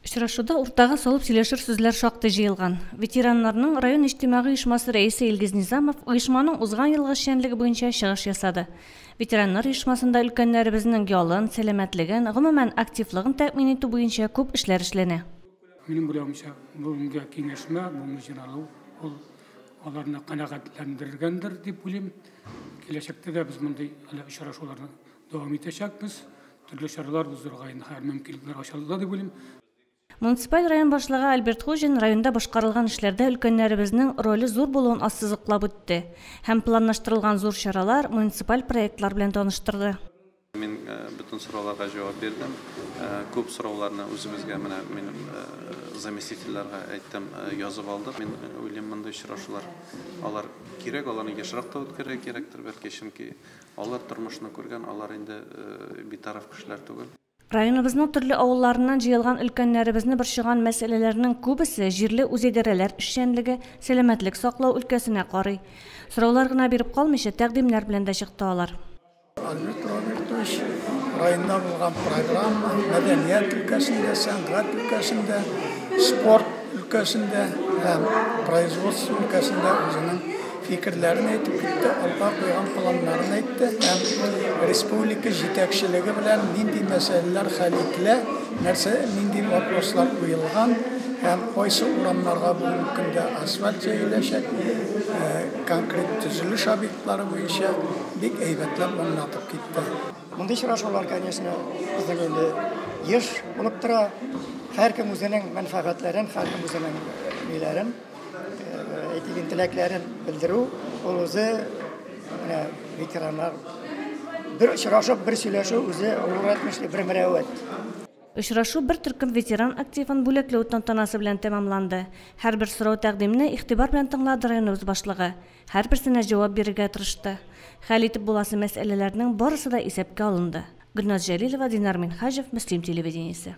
Очрашуда уртага салып сөйләшер сүзләр шактый җыелган. Ветераннарның район иҗтимагый оешмасы рәисе Илгиз Низамов оешманың узган елгы эшчәнлеге буенча чыгыш ясады. Ветераннар оешмасында өлкәннәребезнең ялын, сәламәтлеген, гомумән, активлыгын тәэмин итү буенча күп эшләр эшләнә. Минем уйлавымча, бүгенге киңәшмә, бүгенге җыйналу, ул аларны канәгатьләндергәндер дип уйлыйм. Киләчәктә дә без мондый әле очрашуларны Дәвам итәчәкбез. Төрле чаралар уздыруга инде хәзер мөмкинлекләр ачылды дип уйлыйм. Муниципаль район башлыгы Альберт Хуҗин районда башкарылган эшләрдә өлкәннәребезнең роле зур булуын ассызыклап үтте һәм планлаштырылган зур чаралар, муниципаль проектлар белән таныштырды. Мин бөтен сорауларга җавап бирдем. Күп сорауларны үзебезгә, менә минем заместительләргә әйттем, язып алдык. Мин уйлыйм, мондый очрашулар, алар кирәк, аларны ешрак та үткәрергә кирәктер, бәлки, чөнки Алар тормышны күргән, алар инде битараф кешеләр түгел. Районыбызның төрле авылларыннан җыелган өлкәннәребезне борчыган мәсьәләләрнең күбесе җирле үзидарәләр эшчәнлеге, сәламәтлек саклау өлкәсенә карый. Сораулар гына биреп калмыйча, тәкъдимнәр белән дә чыкты алар. Альберт Робертович, районда булган программа, мәдәният өлкәсендә, сәнгать өлкәсендә, спорт өлкәсендә һәм производство өлкәсендә үзенең фикерләрен әйтеп китте, алга куйган планнарын әйтте һәм республика җитәкчелеге белән нинди мәсьәләләр хәл ителә, нәрсә, нинди вопрослар куелган һәм кайсы урамнарга бүгенге көндә асфальт җәеләчәк, э, конкрет төзелеш объектлары буенча бик әйбәтләп аңлатып китте. Мондый очрашулар, конечно, безнең инде еш булып тора. Һәркем үзенең мәнфәгатьләрен, һәркем үзенең ниләрен Әйтеген теләкләрен белдерү ул үзе менә ветераннар бер очрашып, бер сөйләшү үзе олуг әйтмешли бер мөрәвәт. Очрашу бер төркем ветеран активын бүләкләү тантанасы белән тәмамланды. Һәрбер сорау-тәкъдимне игътибар белән тыңлады районыбыз башлыгы, һәрберсенә җавап бирергә тырышты. Хәл итеп буласы мәсьәләләрнең барысы да исәпкә алынды. Гөлназ Җәлилова, Динар Минһаҗев, Мөслим телевидениесе.